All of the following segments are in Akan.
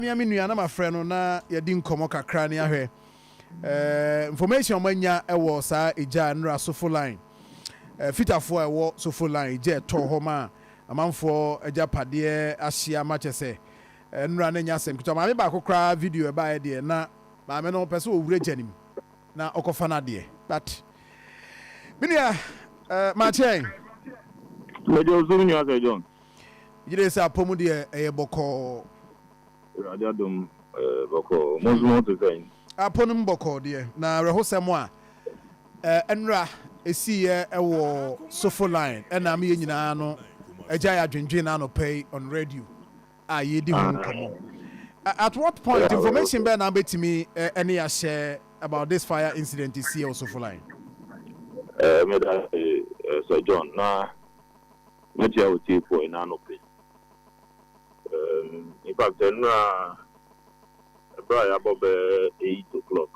me a me nua na mafrɛ no na yɛadi nkɔmmɔ kakra ne ahwɛ eh, information a wɔanya wɔ saa egya a nnora sofo line eh, fitafoɔ a ɛwɔ sofo line egya ɛtɔ hɔ ma amanfoɔ agyapadeɛ ahyia ma kyɛ sɛ eh, nnora no anya asɛm ketewa maame baako koraa video ɛbaeɛ deɛ na maame no pɛ sɛ ɔwura gya no mu na ɔkɔfa no adeɛ but me nua eh, makyɛn mede ɔsom nua sɛ john Megye di sɛ apɔ mu deɛ ɛyɛ bɔkɔɔ. Awurade adom ɛyɛ bɔkɔɔ. Mo nso mo ho te sɛn? Apɔ no mu bɔkɔɔ deɛ, na awerɛhosɛm a ɛnora ɛsiiɛ wɔ Sofo Line ɛnam yɛn nyinaa no agyae adwendwen anɔpa yi on radio a yɛredi ho nkɔmmɔ. At what point, information bɛn na wobɛtumi ɛne yɛn ahyɛ about this fire incident ɛsiiɛ wɔ Sofo Line? Meda ase Sir John, na Mekyia otiefoɔ ena anɔpɛ yi. In fact ɛnora ɛberɛ a yɛabɔ bɛɛ eight o'clock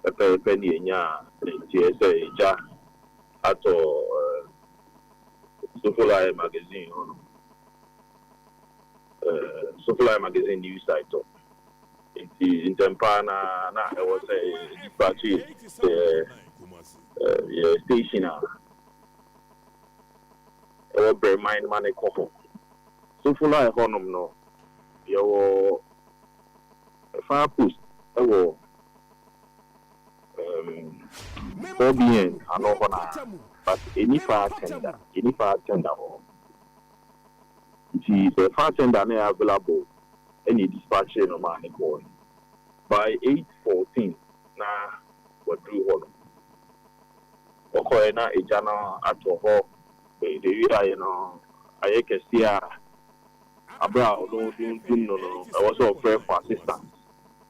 pɛpɛɛpɛ ne yɛnyaa nteɛ sɛ egya atɔ Sofolae magazine hɔ nom, Sofolae magazine news site hɔ. Nti ntɛm pa ara na ɛwɔ sɛ yɛ dispatch yɛ station a. ɛwɔ Bermain ma no kɔ hɔ. Sofala a ɛhɔnom no, yɛwɔ fire post wɔ Forbien ano hɔ no ara, but ɛnni fire tender, yɛnni fire tender wɔ hɔ. Nti sɛ fire tender no yɛ available na yɛdispatchee no maa no kɔɔe. By eight fourteen na waduru hɔnom. Wɔkɔe na gya no atɔ hɔ wiae no ayɛ kɛse ara ma bere a ɔno dundum no no ɛwɔ sɛ ɔfrɛ for assistance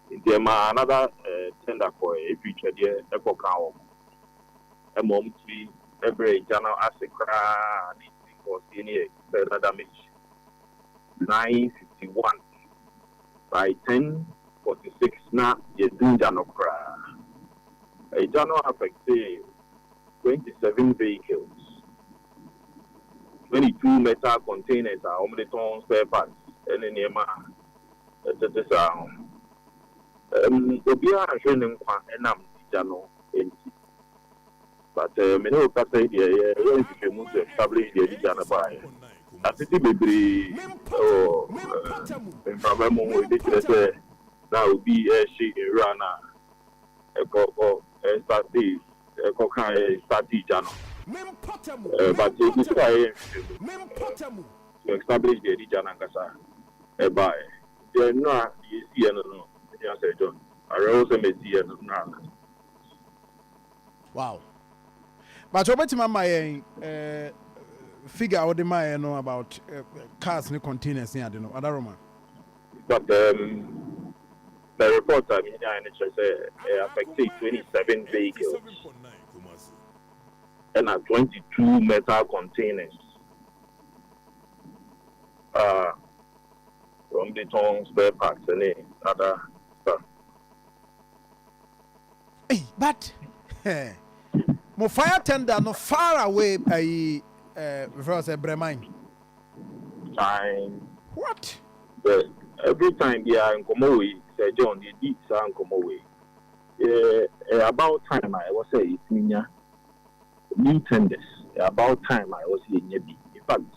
nti ɛmaa another tender kɔe firi Twɛdeɛ kɔkaa wɔn ma wɔn tumi brɛɛ gya no ase koraa a ne nti nkɔɔseɛ no yɛ further damage. Nine fifty one by ten Forty six na yɛdun gya no koraa. Egya no affectee twenty seven vehicles, twenty two metal containers a wɔde tɔn spare parts ne nneɛma a ɛtete saa ho. Obiara anhwere ne nkwa nam egya no nti. But me ne wo kasa yi deɛ yɛ yɛ nhwehwɛmu sɛ Cable yi deɛ ɛde gya no baeɛ. Atete bebree wɔ mframa mu ɛde kyerɛ sɛ na obi ɛrehye nwura no a ɛkɔ kɔ ɛsate ɛkɔ ka ɛsate gya no. But ɛgu so a yɛyɛ nhwehwɛmu sɛ Cable yi deɛ ɛde gya no ankasa ɛbaeɛ. Deɛ nnura deɛ ɛsiiɛ no no, me nua Sir John, awerɛhoɔ sɛ mɛsiiɛ no nnura no. Wow. Pakyɛ wobɛtumi ama yɛn figure a wode maɛ no about cars ne containers ne ade no Adaroma? But um, the report a menyae no kyerɛ sɛ ɛyɛ affectee twenty seven vehicles ɛna twenty two metal containers a wɔde tɔn spare parts ne other stuff. Ei but eh mo fire tender no far away ayi eh mefrɛ wo sɛ brɛ man. Time. What? Sɛ every time biara nkɔmɔ wei Sir John yɛdi saa nkɔmɔ wei ɛyɛ about time a ɛwɔ sɛ yɛtumi nya new tenders ɛyɛ about time a ɛwɔ sɛ yɛnya bi infact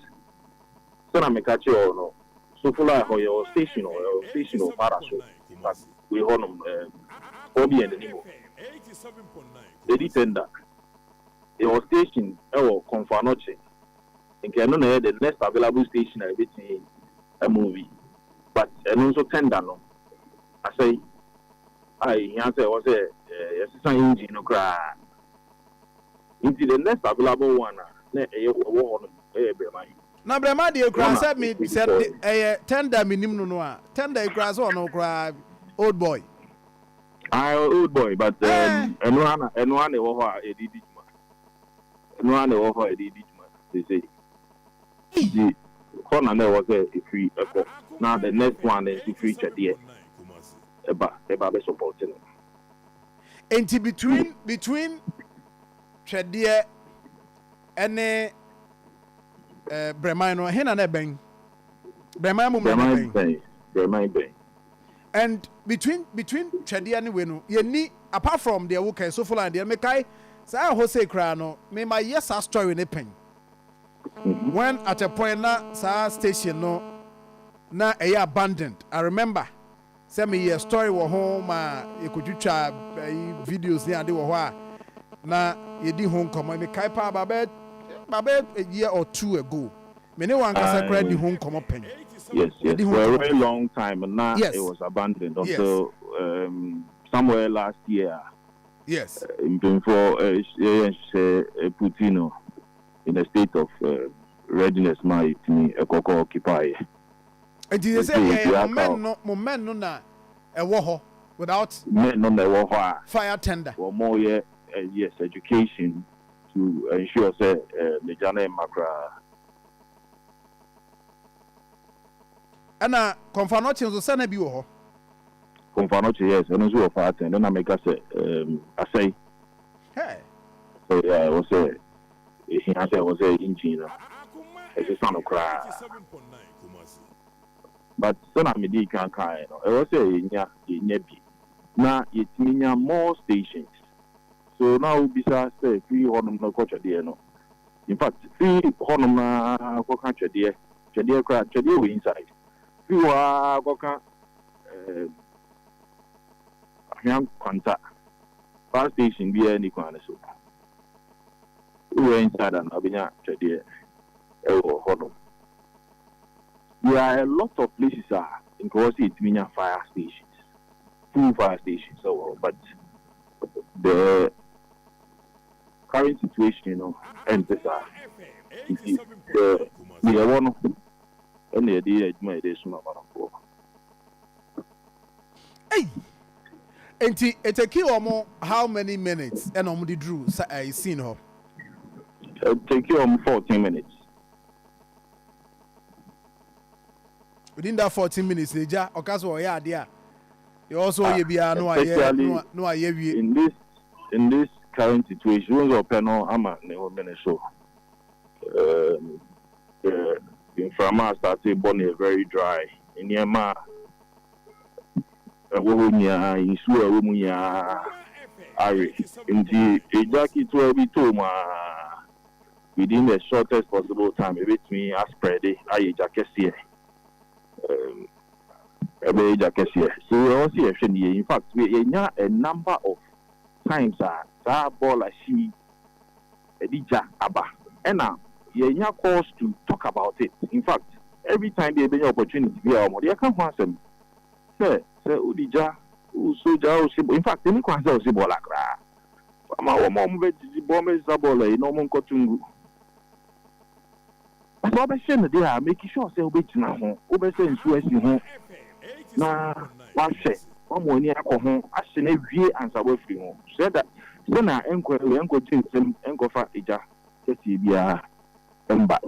Sɛ na meka kyerɛ hɔ no, Sofla hɔ yɛ wɔ station hɔ, yɛ wɔ station wɔ Para so, but wei hɔ nom ɛɛm hɔ bi yɛ n'anim hɔ, Lady Tender, yɛ wɔ station ɛwɔ Komfo-Anokye, nka ɛno na ɛyɛ the next available station a yɛbɛtumi a move, but ɛno nso tender no asɛe a ɛhia sɛ ɛwɔ sɛ yɛsesa engine no koraa. Nti the next available one a na ɛyɛ ɛwɔ hɔ nom ɛyɛ Brɛma yi. Na Brɛma deɛ kura sɛ me sɛ ɛyɛ Tender me nim no no a Tender yi kura sɛ ɔno kura Old boy. Aye Old boy but um ɛno ara na ɛno ara na ɛwɔ hɔ a yɛde di dwuma ɛno ara na ɛwɔ hɔ a yɛde di dwuma seesei nti hɔ na na ɛwɔ sɛ ɛfiri ɛkɔ na the next one nso firi Twɛdeɛ ɛba ɛba bɛ support no. Enti between between Twɛdeɛ ne eh, Brɛman no, ɛhe na na ɛbɛn? Brɛman mu mmerɛ no Brɛman bɛn? bɛn, Brɛman bɛn. And between between Twɛdeɛ ne wei no, yɛnni apart from deɛ wokae, Sofoline deɛ, mekae saa ɛhɔ sei koraa no, me mayɛ saa story no pɛn. Mhm. When at a point na saa station no na ɛyɛ abandoned, I remember sɛ meyɛ story wɔ ho ma yɛkɔtwitwa ayi videos ne ade wɔ hɔ a na yɛdi ho nkɔmmɔ. Mekae paa about bɛyɛ about bɛyɛ a year or two ago me ne wo ankasa koraa di ho nkɔmmɔ pɛn. Yes, yes, Yɛdi ho for a nkɔmmɔ very pɛn. long time na it Yes, was abandoned until yes, um, somewhere last year a yes. eh, mpanyinfoɔ eh, yɛyɛ nhyehyɛeɛ eh, puti no in a state of eh, readiness ma yɛtumi ɛkɔkɔ occupy yɛ. Enti yɛ sɛ yɛ yɛ mo men no mo men no na ɛwɔ hɔ without. Men no na ɛwɔ hɔ a. Fire tender. Wɔn mo yɛ yes education to ensure sɛ me gya no mma koraa. Ɛna Komfanoche nso sɛ na bi wɔ hɔ. Komfanoche yes ɛno nso wɔ fire tender ɛna meka sɛ asɛe. Hey. Asɛe yeah wɔ sɛ. ehia sɛ ɛwɔ sɛ engine no ɛsesa no koraa. But sɛnea medii kan kaeɛ no, ɛwɔ sɛ yɛnya yɛnya bi na yɛtumi nya more stations. So na wobisa sɛ firi hɔnom no kɔ Twɛdeɛ no, in fact firi hɔnom no ara kɔka Twɛdeɛ, Twɛdeɛ koraa, Twɛdeɛ wɔ inside, firi hɔ ara kɔka ɛɛm Ahwea Nkwanta, fire station biara nni kwan no so. Ne werɛ renkyɛ ada na ɔbɛnya twɛdeɛ wɔ hɔnom. There are a lot of places a nka ɛwɔ sɛ yɛtumi nya fire stations, fuel fire stations wɔ hɔ but the current situation no ɛnte saa nti deɛ yɛwɔ no na yɛde yɛ adwuma a yɛde resoma amanfoɔ. Ei! Enti etekii wɔn how many minutes na wɔn de duruu sa ɛɛ scene hɔ? Etekii wɔn fourteen minutes. Within that fourteen minutes na egya ɔka sɛ ɔyɛ adeɛ a deɛ ɔwɔ sɛ ɔyɛ biara na wayɛ na wayɛ awie. In this in this current situation, wohu sɛ ɔpɛ no ama ne home no so. Um. Sɛ mframa a starte bɔ no yɛ very dry, nneɛma a ɛwɔ hɔ nyinaa, nsuo a ɛwɔ mu nyinaa awe. Nti egya ketewa bi tɔ mu ara, within the shortest possible time ɛbɛtumi aspreade ayɛ gya kɛseɛ. Ɛbɛyɛ gya kɛseɛ. So ɛwɔ sɛ yɛhwɛ no yie. In fact, yɛanya a number of times a saa bɔɔla hye yi ɛde gya aba ɛna yɛnya calls to talk about it infact every time bi a yɛbɛnya opportunity bi a wɔn de ɛka ho asɛm sɛ sɛ wode gya wosɔ gya wosi bɔ infact ɛni kwan sɛ wosi bɔɔla koraa fa ma wɔn a wɔn bɛgyegye bɔ wɔn bɛsesa bɔɔla yi na wɔn nkɔto ngu. Sɛ wɔbɛhyɛ no deɛ a, make sure sɛ wobɛgyina ho, wobɛsɛ nsuo asi ho na woahwɛ, woama w'ani akɔ ho, ahye no awie ansa woafiri ho. Sɛ da, sɛ na ɛnkɔ awie, ɛnkɔgye nsam, ɛnkɔfa egya kɛseɛ biara mma.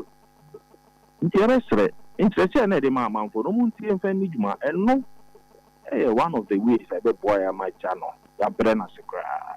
Nti yɛbɛsrɛ, nkyerɛkyerɛ na yɛde ma amanfoɔ no, montie mfa nni dwuma. Ɛno yɛ one of the ways a ɛbɛboa yɛn ama gya no, yɛabrɛ no ase koraa.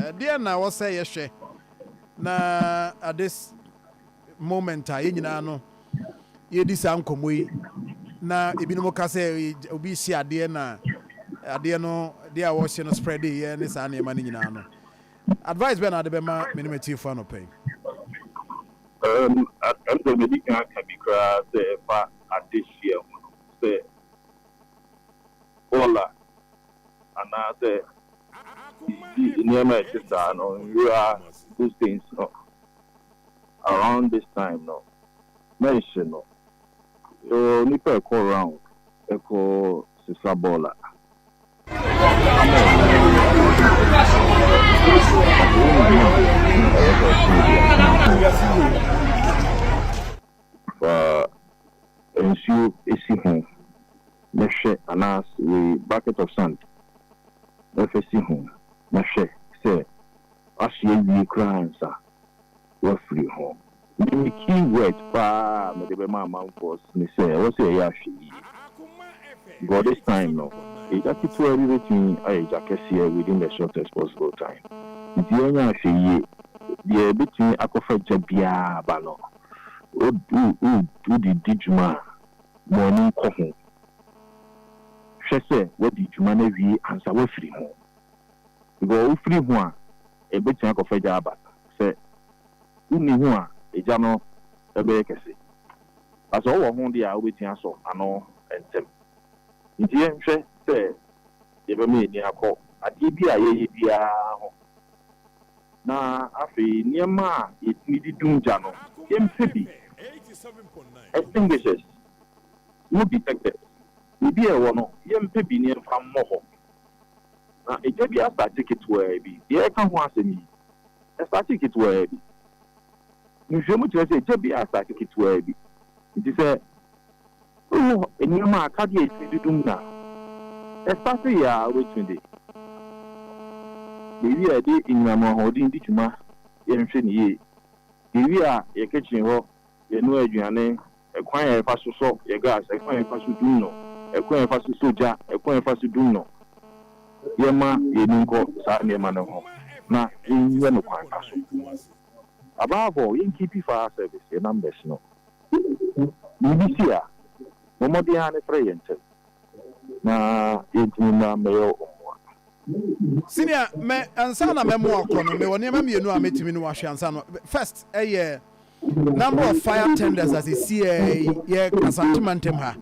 Ɛdeɛn na ɛwɔ sɛ yɛhwɛ na at this moment a yɛn nyinaa no yɛredi saa nkɔmmɔ yi na ebinom ka sɛ obi rehye adeɛ na adeɛ no deɛ a wɔrehye no spread yɛ ne saa nneɛma no nyinaa no advice bɛn na ade bɛma me ne m'atiefo anɔpa yi? Um, ɛm sɛ madi kan aka bi koraa sɛ ɛfa adehyeɛ ho no sɛ bɔɔl a anaasɛ biribi, nneɛma a ɛte saa no, nwura, those things no, around this time no, mɛnhye no. Yɛwɔ nnipa a ɛkɔ round kɔ sesa bɔɔl a, ama wɔn ani agye wɔ bɔɔl bi mu anaa? Anaasɛ wonim hene a na ɛwɔ sɛ ɔkyene biara? Fa nsuo si ho na hwɛ anaas wei bucket of sand na fa si ho na hwɛ sɛ ahye awie koraa ansa wafiri ho. Me me key word paa a mede bɛma amanfoɔ ne sɛ ɛwɔ sɛ yɛyɛ ahwɛyie. But this time no egya ketewa bi bɛtumi ayɛ egya kɛseɛ within the shortest possible time. Nti yɛnyɛ ahwɛyie. Deɛ ɛbɛtumi akɔfa gya biara aba no wode di dwuma a, ma w'ani nkɔ ho. Hwɛ sɛ woadi dwuma no awie ansa woafiri ho. Because wofiri ho a, ɛbɛtumi akɔfa egya aba. Sɛ wonni ho a, egya no bɛyɛ kɛse. But sɛ wowɔ ho deɛ a, wobɛtumi asɔ ano ntɛm. Enti yɛnhwɛ sɛ yɛbɛma yɛn ani akɔ adeɛ bi a yɛyɛ biara ho. Na afei nneɛma a yɛtumi de dum gya no, yɛmpɛ bi. Extinguishers smoke detectors, biribi a ɛwɔ no, yɛmpɛ bi na yɛmfa mmɔ hɔ. Na gya bi astate ketewaa bi. Deɛ yɛreka ho asɛm yi, ɛstate ketewaa bi. Nhwehwɛmu kyerɛ sɛ gya bi astate ketewaa bi. Enti sɛ. Wowɔ nneɛma a akadeɛ a ɛtumi dodom no a, ɛfa sɛ yɛ ara wobɛtumi de baabi a yɛde anyinam ahoɔden di dwuma, yɛnhwɛ no yie, baabi a yɛ kitchen hɔ yɛnoa aduane, ɛkwan a yɛfa so sɔ yɛ gas, ɛkwan a yɛfa so dum no, ɛkwan a yɛfa so sɔ gya, ɛkwan a yɛfa so dum no. Yɛmma yɛn ani nkɔ saa nneɛma no ho na yɛnyɛ no kwan pa so. Above all, yɛnkeepi fire service, yɛ numbers no. biribi si a, bɔ mmɔden ara na frɛ yɛn ntɛm na yɛntumi mmra mmɛyɛ wo mmoa. Senior, me, ansa na mɛmo akɔ no, mewɔ nneɛma mmienu a mɛtumi ne wo ahwɛ ansa no. First, ɛyɛ number of fire tenders as ɛsi ɛɛ, yɛ Kasante mantam ha.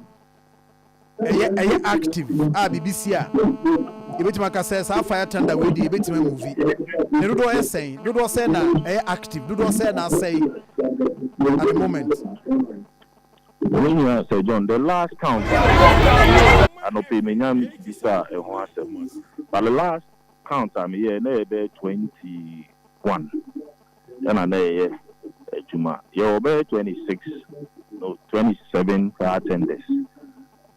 ɛyɛ ɛyɛ active a biribi si a yɛbɛtumi aka sɛ saa fire thunder wei deɛ yɛbɛtumi amuvi ne dodoɔ yɛ sɛn dodoɔ sɛn na ɛyɛ active dodoɔ sɛn na asɛe at the moment. Me nua Sir John, the last count a meyɛɛ anɔpa yi manya bisa ɛho asɛm but the last count a meyɛɛ na ɛyɛ bɛyɛ twenty one. Ɛna na yɛyɛ adwuma. Yɛwɔ bɛyɛ twenty six, no, twenty seven car tenders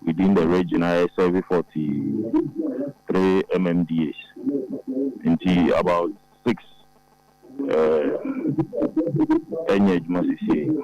within the region a yɛsɛɛve forty three MMDAs. Nti about six ɛɛ ɛnyɛ adwuma sesiei.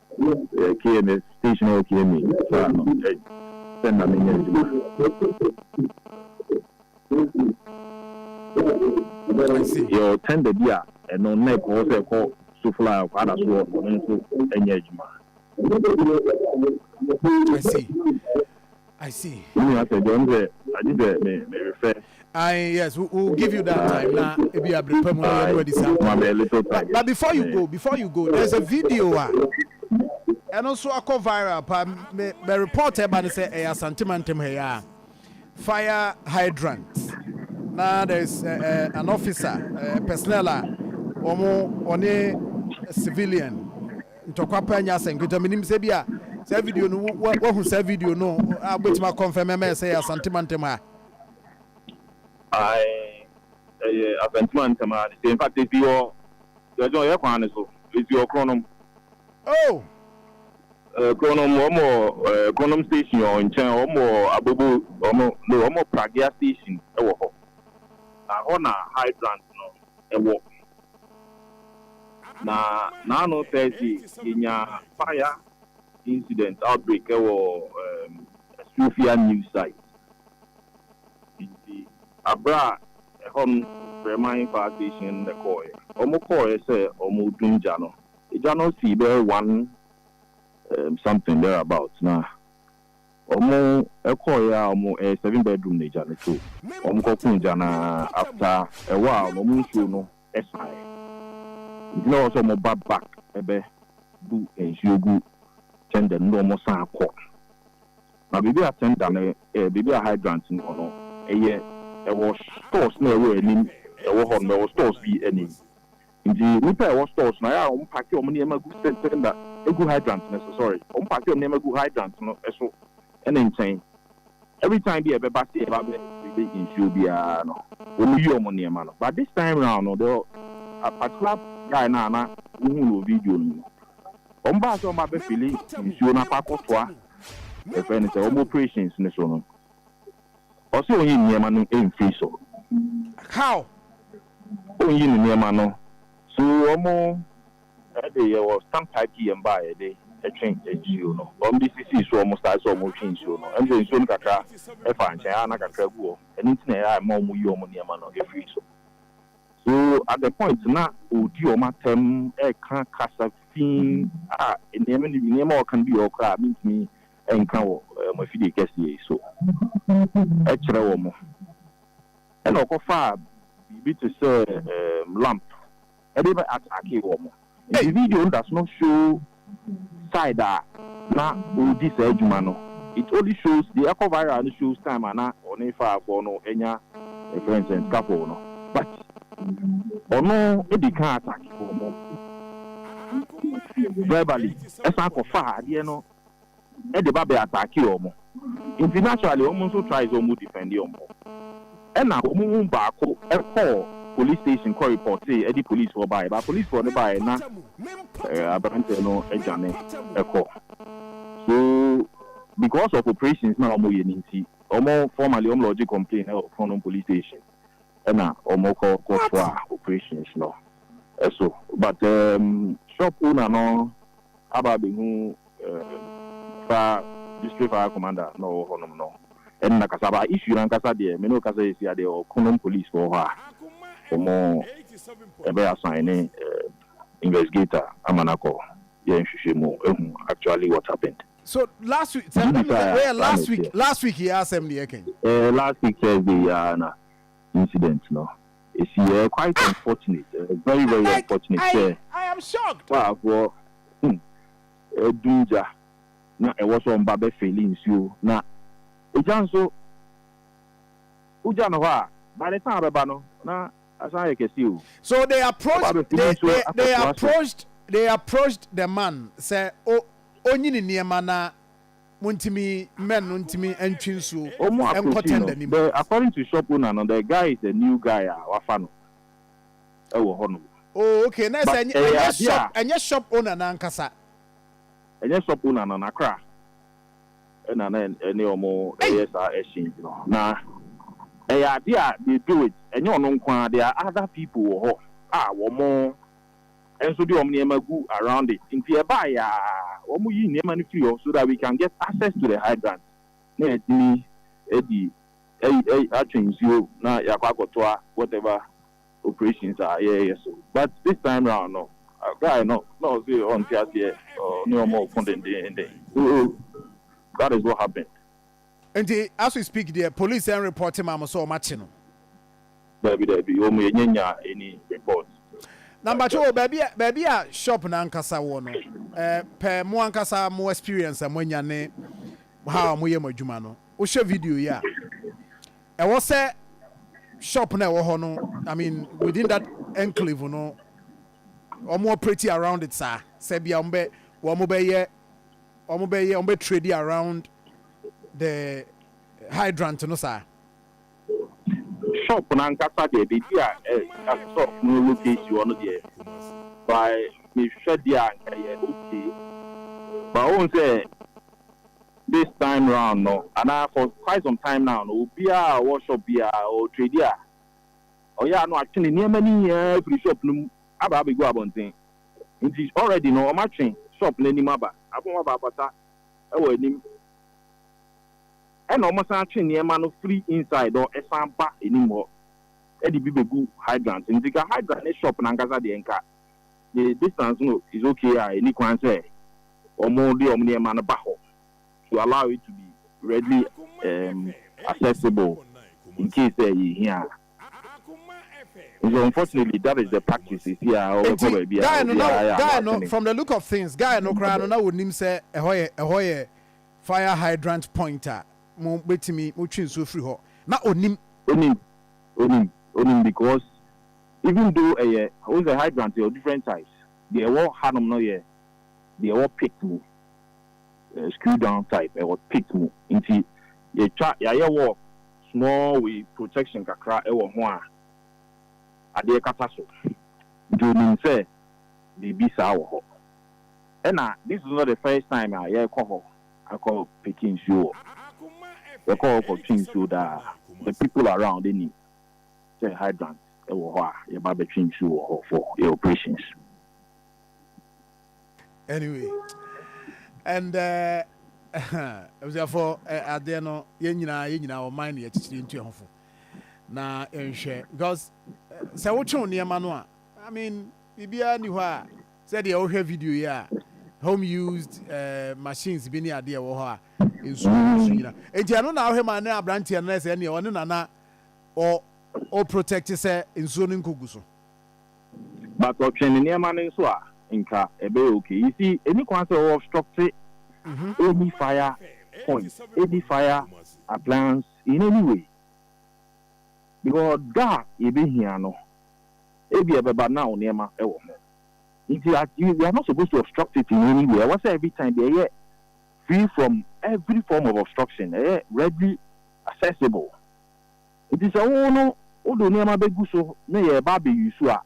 Kee me station a ɔwɔ Kiemi faa no sɛ mma menyɛ adwuma. Yɛwɔ tender bi a ɛno nna ɛkɔ hɔ sɛ ɛkɔ Sofla a ɔkɔ Adasoɔ ɔno nso nyɛ adwuma. I see. I see. Me nua sɛ deɛ ɔno sɛ agye sɛ me me refɛ. I yes we will give you that time na ebi abere pa mu no yɛne wadi saa nkɔmɔ. But, but before you go before you go there's a video a ɛno nso akɔ viral pa me me report ɛba ne sɛ ɛyɛ Asante Mantam ha yɛ a fire hydrant na there's uh, uh, an officer uh, personnel a wɔn wɔne civilian. Ntɔkwa pa nyɛ asɛm nketewa. Minim sɛ ebia saa video no, woahu saa video no a wubetumi akɔnfɛm ama yɛn sɛ ɛyɛ Asante mantam ha. Ae, ɛyɛ Asante mantam ha de. In fact, esi hɔ Sierra Leone yɛ kwan no so. Esi hɔ Kronom. Oh! Eh, Kronom, wɔn wɔ eh, Kronom station wɔ nkyɛn, wɔn wɔ Abobo, wɔn, no, wɔn wɔ Pragea station wɔ hɔ. Na hɔ na Hydrant no. ɛwɔ na naano Thursday yɛnya fire incident outbreak ɛwɔ um, Sofia news site nti aberɛ a ɛhɔ no frɛ man fire station no na kɔɔɛ wɔn kɔɔɛ sɛ wɔn redum gya no gya no sii bɛyɛ one um, something there about na Ɔmo kɔɔeɛ a ɔmo ɛyɛ seven bedroom na gya no to. Ɔmo kɔ koo gya no ara after a while no ɔmo nsuo no saeɛ nti na ɛwɔ sɛ ɔmo ba back bɛ bu nsuo gu tender no na ɔmo san akɔ na baabi a tender no ɛɛ baabi a hydrant no wɔ no ɛyɛ ɛwɔ stores na ɛwɔ anim ɛwɔ hɔ nom ɛwɔ stores bi anim Ntsi nyimpa a ɛwɔ store so no, ayɛ a wɔn paake wɔn nneɛma gu cylinder, egu hydrant no so, sorry, wɔn paake wɔn nneɛma gu hydrant no so ne nkyɛn. Every time bi a yɛbɛba se yɛreba abɛ refille nsuo biara no, wɔn yi wɔn nneɛma no. But this time round no, the a particular guy no a na wohuu no wɔ video no mu no, wɔn baa sɛ wɔn ba abɛ fille nsuo no akɔ akɔtoa yɛfrɛ no sɛ wɔn operations no so no, ɔse ɔnyi nneɛma no mfiri so. How? Ɔnyi ne nneɛma no. So wɔn de yɛ wɔ stand pipe yɛn ba a yɛde twe nsuo no. Wɔn de sisii so wɔn style sɛ wɔretwe nsuo no. Ɛne sɛ nsuo no kakra faa nkyɛn a na kakra gu hɔ. Ɛno nti na ɛma wɔn yi wɔn nneɛma no firi so. So at the point na ɔredi wɔn atɛm reka kasa fi a nneɛma no bi nneɛma a ɔreka no bi wɔ hɔ koraa a mentumi nka wɔ mo afidie kɛseɛ yi so kyerɛ wɔn. Ɛnna ɔkɔfaa biribi te sɛ lamp de bɛ attackee wɔn. Nti video no da so no show side a na ɔredi saa adwuma no. It only shows, deɛ ɛkɔ viral no shows time a na ɔne fire-foɔ no anya yɛfrɛ no sɛn scuffle no. But ɔno di kan attackee wɔn verbally, ɛsan kɔfaa adeɛ no. de ba bɛ attackee wɔn nti naturally wɔn nso try sɛ wɔn defend wɔn ho ɛna wɔn mu baako kɔɔ police station kɔ reportee ɛde police foɔ baeɛ but police foɔ no baeɛ na abranteɛ no adwane ɛkɔ so because of operations na wɔn yɛ no nti wɔn formally wɔn lodge complain ɛwɔ Kronom police station ɛna wɔn kɔ kɔ toa operations no ɛso but um, shop owner no aba abɛhu Ehm fa district fire commander na ɔwɔ hɔ nom no nna kasa ba issue no ankasa deɛ me ne wo kasa yɛ sia deɛ ɔko nom police fɔ wɔ hɔ a ɔmo ɛbɛ assign ne eh investigator ama no akɔ yɛ nhwehwɛ mu ahu actually what happened. So last week sɛ ɛyɛ last week last week yi asɛm ne yɛka yi. Ɛɛ last week Thursday yi ara na incident no esi yɛ ɛyɛ quite unfortunate ɛyɛ very very unfortunate sɛ faafoɔ hmm ɛdum gya na ɛwɔ sɛ ɔmba bɛ fili nsuo na egya nso wo gya no hɔ a by the time abɛba no na asan ayɛ kɛseɛ o So they approached Ɔba abɛfili they nsuo they they akɔtoa so. approached they approached the man sɛ o onyi ne nneɛma na Montimi mɛn no ntimi ntwe nsuo Ɔmo nkɔ approachi no tender no mu. dɛ according to shop owner no the guy is a new guy a wafa no ɛwɔ hɔ nom Oh okay na ɛsɛ but ɛnyɛ ɛyɛ ɛnyɛ adeɛ a. shop ɛnyɛ shop owner no ankasa. Ɛnyɛ shop owner no nakra ɛna na ɛne ɔmo Ei! ɛyɛ saa exchange no na ɛyɛ adeɛ a they do it ɛnyɛ ɔno nkoaa there are other people wɔ hɔ a wɔmo nso de wɔn nneɛma gu around it nti ɛbaeɛ aa wɔn yi nneɛma no firi hɔ so that we can get access to the hydrant na yɛatumi adi atwe nsuo na yɛakɔ akɔtoa whatever operations a yɛreyɛ so but this time round no guy no na ɔse ɔnte aseɛ ɔne wɔn reko dendeenden so that is what happened Nti as we speak deɛ police ɛn report ma mo sɛ ɔmo akye no? Dabi dabi wɔ mo yɛ nyɛ nya any report. Na mpakyɛw o baabi a baabi a shop no ankasa wɔ no eh pɛ mo ankasa mo experience a mo anya ne how a mo yɛ mo adwuma no wo hwɛ video yi a ɛwɔ sɛ shop no a ɛwɔ hɔ no I mean within that enclave no ɔmo operate around it saa sɛ bia ɔmo bɛ wɔ ɔmo bɛ yɛ wɔbɛyɛ wɔbɛ trade around the hydrant no saa. Shop n'ankasa deɛ baabi a ɛ a shop no locate hɔ no deɛ by mehwɛ deɛ a nka ɛyɛ okay but wohu sɛ this time round no anaa for quite some time now no obiara a ɔwɔ shop bi a ɔ trade a ɔyɛ a na watwe ne nneɛma no nyinaa afiri shop no mu aba abɛgu abɔnten. Nti already no ɔmo atwe shop no anim aba. Afei ɔmo abaabasa ɛwɔ anim. Ɛna ɔmo san atwe nneɛma no firi inside hɔ ɛsan ba anim hɔ ɛde bi bɛgu hydrant no. Nti nka hydrant ne shop no ankasa deɛ nka the distance no is okay a ɛni kwan sɛ ɔmo de ɔmo nneɛma no ba hɔ to allow it to be readily um accessible incase sɛ yɛhia a. Nti so unfortunately that is the practice sisi a ɔbɛkɔ baabi a obiara yɛ ano atene. From the look of things guy no koraa no na ɔnim sɛ ɛhɔ yɛ ɛhɔ yɛ fire hydrant point a mo bɛtumi mo twe nsuo firi hɔ na ɔnim. Ɔnim ɔnim ɔnim because even though ɛyɛ wohu sɛ hydrant yɛwɔ different types deɛ ɛwɔ hanom no yɛ deɛ ɛwɔ pit mu screw down type ɛwɔ pit mu nti yɛtwa yɛayɛ work. Small wei protection kakra wɔ ho a adeɛ kata so nti ɔnim sɛ biribi saa wɔ hɔ ɛna this is not the first time a yɛkɔ hɔ akɔ peke nsuo wɔ yɛkɔ hɔ kɔ twe nsuo daa the people around nim sɛ hydrant wɔ hɔ a yɛba bɛtwe nsuo wɔ hɔ for yɛ operations. Anyway, and abusuafo adeɛ no yɛn nyinaa yɛn nyinaa ɔman ne akyikyiri ntu ɛhofo na yɛnhwɛ because sɛ wotwew nneɛma no a I mean biribiara ni hɔ a sɛdeɛ wohwɛ video yi a home used uh, machines bi ne adeɛ wɔ hɔ a nsuo nso mm. nyina nti ɛno na wohwɛ ma ne aberanteɛ no sɛ ɛneɛ ɔne nana ɔ ɔ protect sɛ nsuo no nkɔgu so But ɔtwe ne nneɛma no nso a nka ɛbɛyɛ okay. You see, ɛnni kwan sɛ wo obstructe any fire point, any fire appliance in any way. Because da a yɛbɛhia no, ebia ɛbɛba na wo nneɛma wɔ ho. Nti you are not supposed to obstruct it in any way. Ɛwɔ sɛ every time deɛ ɛyɛ free from every form of obstruction, ɛyɛ readily accessible. Enti sɛ wo no wode wo nneɛma bɛgu so na yɛreba abɛuse wo a,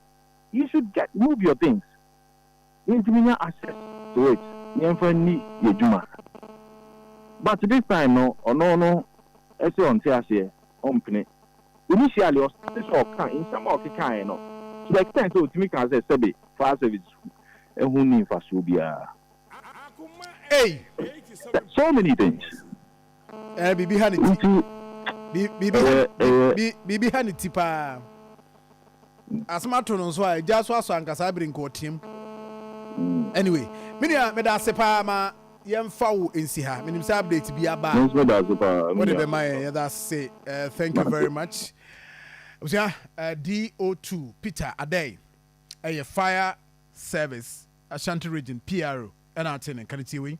you should get move your things na yɛntumi nya access to it na yɛmfa nni yɛn adwuma. But this time no, ɔno no ɛse ɔnte aseɛ, ɔmpene. Initially ɔstartee sɛ ɔka, nsɛm a ɔkekaeɛ no, to the extent sɛ ɔtumi kaa sɛ sɛbe fire service ho nni mfasoɔ biara. Ei! So many things. Eh, biribi ha ne ti. Nti, biribi ha, bi, biribi ha ne ti paa. Asɛm ato no nso a, agya so asɔ ankasa abiri nka ɔteam. Anyway, me nua, meda ase paa ma yɛmfa wo nsi ha. Menim sɛ update bi aba a. Nso da ase paa. Wode bɛma yɛn, yɛda ase. Uh, thank you very much. Abusua, uh, DO2, Peter Adɛn, ɛyɛ fire service. Ashanti Region, PRO, na atee ne nka no. Tie wei.